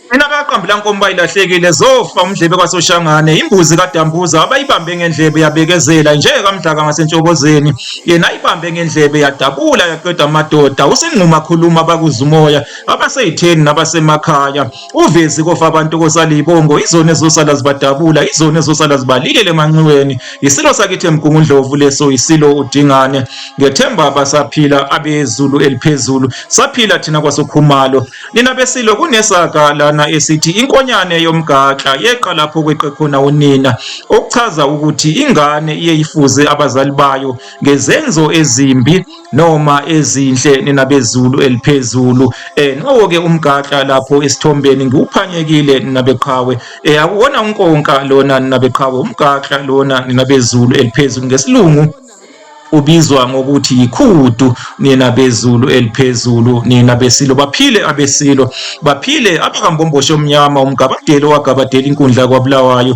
Phela kaqambi lankomba ilahlekile zofa umdlebe kwasoshangane imbuzi kadambuza abayibambe ngendlebe yabekezela nje kamdlaka ngasentshobozeni yena ayibambe ngendlebe yadabula yaqeda amadoda usingquma khuluma bakuzumoya abaseyitheni nabasemakhaya Uvezi kofa abantu kosala ibongo izona ezosala zibadabula izona ezosala zibalilele emanxiweni yisilo sakithi emgungundlovu leso yisilo udingane ngethemba basaphila abezulu eliphezulu saphila thina kwasokhumalo nina besilo kunesaka lana esithi inkonyane yomgaxa yeqa lapho kweqe khona unina okuchaza ukuthi ingane iye ifuze abazali bayo ngezenzo ezimbi noma ezinhle nina bezulu eliphezulu eh nowo ke umgaxa lapho esithombeni ngiwuphanyekile nina beqhawe eh akuwona unkonka lona nina beqhawe umgaxa lona nina bezulu eliphezulu ngesilungu ubizwa ngokuthi yikhudu nina bezulu eliphezulu nina besilo baphile abesilo baphile abakambomboshi omnyama umgabadeli owagabadela inkundla kwabulawayo